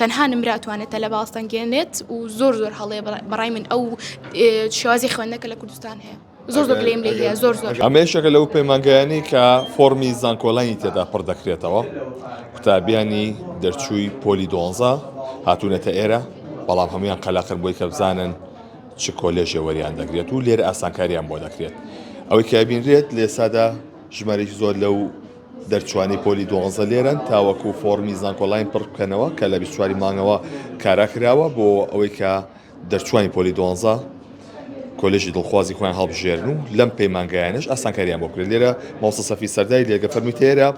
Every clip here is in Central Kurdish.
تەنها نمرە ئەتوانێت تەلەبە هەڵسەنگێنێت و زۆر زۆر هەڵەیە بەڕای من ئەو شێوازی خوێندنە کە لە کوردستان هەیە زۆر زۆر لێم لێ هەیە زۆر زۆر ئەمەشەکە لەو پەیمانگایانی کە فۆرمی زانکۆلانی تێدا پڕ دەکرێتەوە قوتابیانی دەرچووی پۆلی دۆنزە هاتوونەتە ئێرە بەڵام هەمویان قەلاقن بۆی کە بزانن چ کۆلێژێ وەریان دەگرێت و لێرە ئاسانکاریان بۆ دەکرێت ئەوەی کابینرێت لێسادا ژمارەی زۆر لەو دەرچوانی پۆلی دوانزە لێرەن تاوەکو فۆڕمی زانکۆلاین پڕ بکەنەوە کە لە بیست و چوار ی مانگەوە کارا کراوە بۆ ئەوەی کە دەرچوانی پۆلی دوانزە کۆلێژی دڵخوازی خۆیان هەڵبژێرن و لەم پەیمانگایانەش ئاسانکاریان بۆ بکرێت لێرە مامۆستا سەفی سەرداری لێگە فەرمی تێرە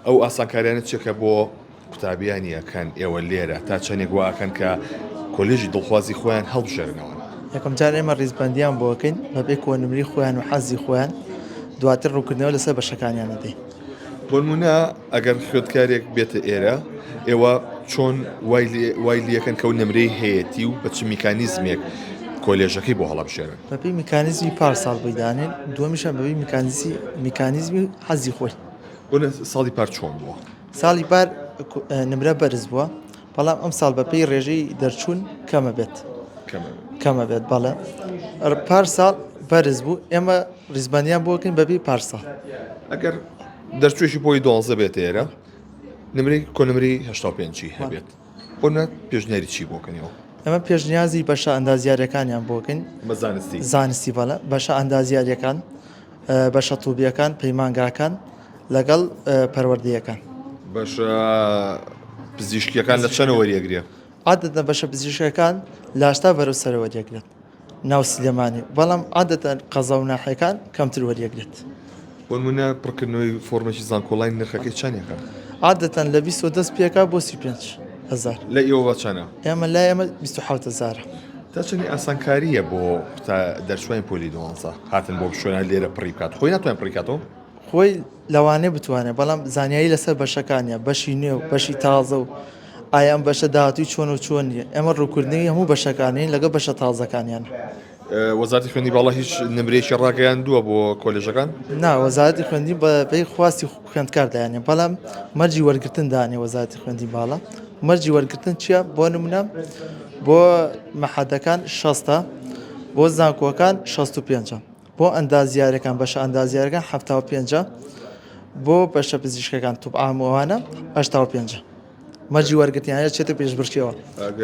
ئەو ئاسانکاریانە چێکە بۆ قوتابیانی ئەکەن ئێوە لێرە تا چەندێک وا ئەکەن کە کۆلێژی دڵخوازی خۆیان هەڵبژێرنەوە. یەکەم جار ئێمە ڕیزبەندیان بۆ ئەکەین بەبێ کۆنمرەی خۆیان و حەزی خۆیان دواتر ڕوونکردنەوە لەسەر بەشەکانیان ئەدەین. بۆ نموونە ئەگەر خوێندکارێک بێتە ئێرە ئێوە چۆن وای لێ وای لێ ئەکەن کە ئەو نمرەی هەیەتی و بە چ میکانیزمێک کۆلێژەکەی بۆ هەڵبژێرن؟ بەپێی میکانیزمی پارساڵ بۆی دانێن، دووەمیشیان بەپێی میکانیزی میکانیزمی حەزی خۆی. بۆ نموونە ساڵی پار چۆن بووە؟ ساڵی پار نمرە بەرز بووە بەڵام ئەم ساڵ بەپێی ڕێژەی دەرچوون کەمە بێت کەمە بێت بەڵێ پار ساڵ بەرز بوو ئێمە ڕیزبانیان بۆکەین بەبی پارسا ئەگەر دەرچوێکی بۆی دۆزە بێت ئێرە نمری کۆنمری هشتا پێنجی هەبێت بۆ پێشنیاری چی بۆکەنەوە ئەمە پێشنیازی بەشە ئەندازیارەکانیان بۆکەین زانستی بەڵە بەشە ئەندازیارەکان بەشە تووبیەکان پەیمانگاکان لەگەڵ پەروەردەیەکان. بەشە پزیشکیەکان لە چەنە وەریەگرێ؟ عادەتە بەشە پزیشکەکان لاشتا بەرەو سەرە وەریەگرێت ناو سلێمانی بەڵام عادەتە قەزا و ناحەکان کەمتر وەریەگرێت ومنە پڕکردنەوەی فۆرمێکی زانکۆڵین نرخەکەی چەندێکە عادەتەن لە 20 پێکا بۆ 35 هزار لە ئێوە چەنە ئێمە لا ئێمە 26 هزارە دەچنی ئاسانکاریە بۆ دەرچوین پۆلی دوانزە هاتن بۆ بشوێنە لێرە پڕی بکات خۆی ناتوانین پڕیکاتەوە خۆی لەوانەیە بتوانێت بەڵام زانیاری لەسەر بەشەکانە بەشی نوێ و بەشی تازە و ئایا ئەم بەشە داهاتوی چۆن و چۆن نیە ئەمە ڕووکردنەوەی هەموو بەشەکانین لەگە بەشە تازەکانیان وەزارتی خوێنی باڵا هیچ نمرێکی ڕاگەیان دووە بۆ کۆلێژەکان نا وەزارتی خوێندی بە پێی خواستی خوێندکار دایانێ بەڵام مەرجی وەرگتن دانێ وەزارتی خوێندی باڵا مەرجی وەرگتن چییە بۆ نمونە بۆ مەحەدەکان شەستە بۆ زانکۆکان 65. بۆ ئەندازیارەکان بەشە ئەندازیارەکان حەفتا و پێنج بۆ بەشە پزیشکەکان توپ عام ئەوانە هەشتا و پێنج مەرجی وەرگتیانە چێتە پێش برچەوە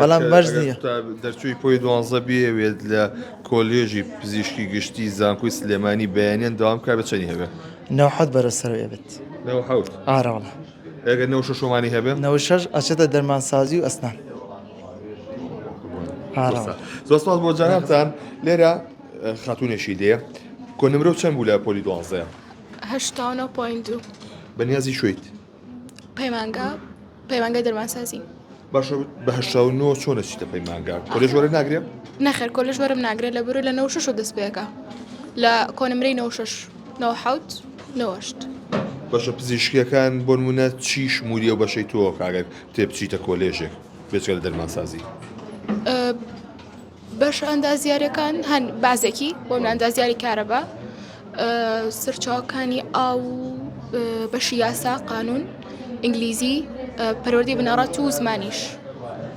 بەڵام مەرج نییە دەرچووی پۆی دوانزە بێوێت لە کۆلێژی پزیشکی گشتی زانکۆی سلێمانی بەیانیان داوام کا بە چەنی هەبێت نەوحەت بەرە سەرێ بێت ئاراڵە ئەگەر نەوشە شۆمانی هەبێت نەوشەش ئەچێتە دەرمانسازی و ئەسنان زۆر سپاس بۆ جانابتان لێرە خاتونێکی دێ کۆ نمرەو چەند بوو لە پۆلی دوازدە؟ هەشتا و نۆ پۆین دوو. بەنیازی کوێیت؟ پەیمانگا پەیمانگای دەرمانسازی. باشە بە هەشتا و نۆ چۆنە چیتە پەیمانگا کۆلێژ وەرە ناگرێ؟ نەخێر کۆلژ وەرم ناگرێت لە بەرو لە نەو شش و دەست پێەکە لە کۆنمرەی نەو شش نەو حوت نەوەشت. بەشە پزیشکیەکان بۆ نمونە چی شمولی و بەشەی تۆ کاگەر تێ بچیتە کۆلێژێک بێچگە لە دەرمانسازی؟ بەشە ئەندازیارەکان هەن بازێکی بۆ ئەندازیاری کارەبا سەرچاوەکانی ئاو و بەشی یاسا قانون ئینگلیزی پەرۆدی بنەڕەت و زمانیش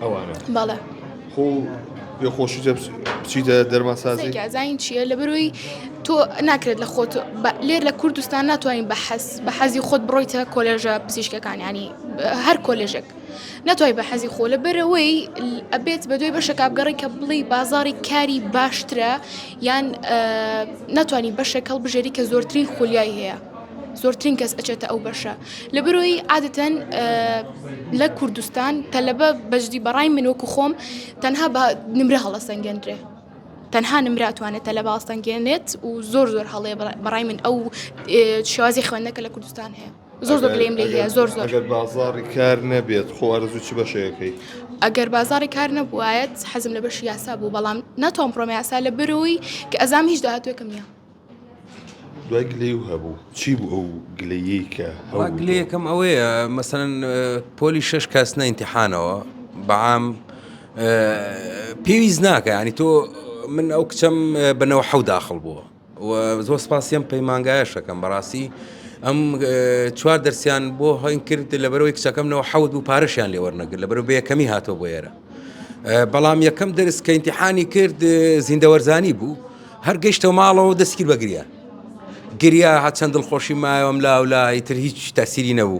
ئەوانە بەڵێ خۆ پێخۆشی بچیدە دەرماسازی زانین چییە لە بەروی تۆ ناکرێت لە خۆت لێر لە کوردستان ناتوانین بە حەز بە حەزی خۆت بڕۆیتە کۆلێژە پزیشکەکان ینی هەر کۆلێژێک ناتوانی بە حەزی خۆ لە بەرەوەی ئەبێت بە دوای بەشەکە بگەڕی کە بڵی بازاری کاری باشترە یان ناتوانانی بەشێک هەڵ بژێری کە زۆرترین خولیای هەیە زۆرترین کەس ئەچێتە ئەو بەشە لە بەرۆی عادەتەن لە کوردستان تەلەبە بەجدی بەڕای من وەکو خۆم تەنها بە نمرە هەڵە سەنگەندرێ تەنها نمراتوانێت تەلە باستەنگێنێت و زۆر زۆر هەڵێ بەڕای من ئەو شێوازی خوێندنەکە لە کوردستان هەیە زۆر زۆر گلەیم لێ هەیە زۆر زۆر ئەگەر بازاڕی کار نەبێت خۆ ئەرزوو چ بەشەکەی ئەگەر بازاڕی کار نەبووایەت حەزم لە بەش یاسا بوو بەڵام ناتوان پرۆم یاسا لە برۆی کە ئەزام هیچ داهاتوێکم نیە دوای گلەی و هەبوو چی بوو ئەو گلەیی کە هەوا گلەیەکەم ئەوەیە مەسەن پۆلی شش کەس نەینتیحانەوە بەعام پێویست ناکە ینی تۆ من ئەو کچەم بنەوە حەو داخل بووە وە زۆر سپاسی ئەم پەیمانگایەش ئەکەم بەڕاستی ئەم چوار دەرسیان بۆ هەین کرد لەبەرەوەی کچەکەم نەوە حەوت بوو پارەشیان لێ وەرنەگر لەبەرەوە بە یەکەمی هاتۆ بۆ ئێرە بەڵام یەکەم دەرس کە ئینتیحانی کرد زیندەوەرزانی بوو هەر گەشتەوە ماڵەوە دەستگیر بەگریا گریا هەچەند دڵخۆشی مایەوەم لاولا ئیتر هیچ تەسیری نەبوو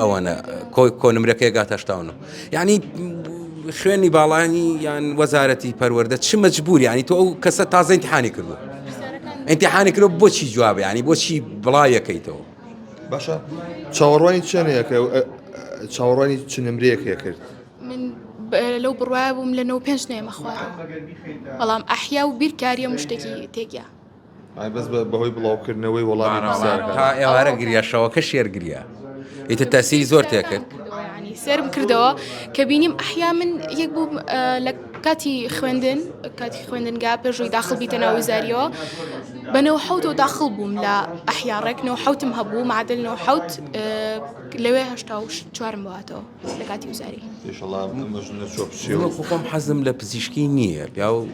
ئەوەنە کۆی کۆنمرەکەی گات هەشتا و نۆ یعنی خوێنی باڵانی یان وەزارەتی پەروەەردە چ مەجبور ینی تۆ ئەو کەسە تازە امتحانی کردو امتحانی کرۆ بۆچی جواب ینی بۆچی بڵاوەکەیتەوە باشە چاوەڕوانی چێنەکە چاوەڕوانی چ نمرەیەکێ کرد لەو بڕواە بووم لە نەوە پێنج نێمە خوارەوە بەڵام ئەحیا و بیرکاریە مشتێکی تێکیا باران تا ئێوارە گریا شەوەکەش شێر گریا ئیتر تاسیری زۆر تێکرد سرم کردەوە کە بینیم ئەحیا من یەک بوو لە کاتی خوێندن کاتی خوێندنگا پێشوی داخل بیتە ناوزاریەوە بەنەوە حوت و داخل بووم لە ئەحیاڕێکنەوە حوتم هەبوو معادلەوە حوت لەوێ هشتا و چوارم باتەوە لە کاتی وزاری خۆم حەزم لە پزیشکی نییە پیا و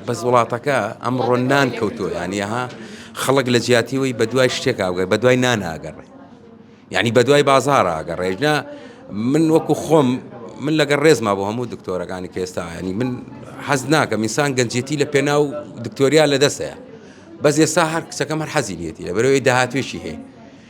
بەس وڵاتەکە ئەمڕۆ نان کەوتووە یانیها خەڵک لە جیاتیەوەی بە دوای شتێک ئاگەر بە دوای ناناگەڕێ یعنی بە دوای بازار ئاگەڕێژنا من وەکو خۆم من لەگەڵ ڕێزما بۆ هەموو دکتۆرەکانی کێستا ینی من حەز ناکە میسان گەنجێتی لە پێناو دکتۆریا لە دەستەیە بەس ئێستا هەر کچەکەم هەر حەزی لێتی لە بەرەوەی داهاتوێکی هەیە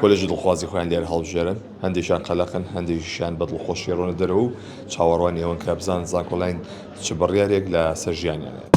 کۆلێژی دڵخوازی خۆیان لێرە هەڵبژێرن، هەندێکیان قەلەقن، هەندێکیشیان بە دڵخۆشی ئەڕۆنە دەرەوە و چاوەڕوانی ئەوەن کە بزانن زانکۆلاین چ بڕیارێک لە سەر ژیانیان ئەدات.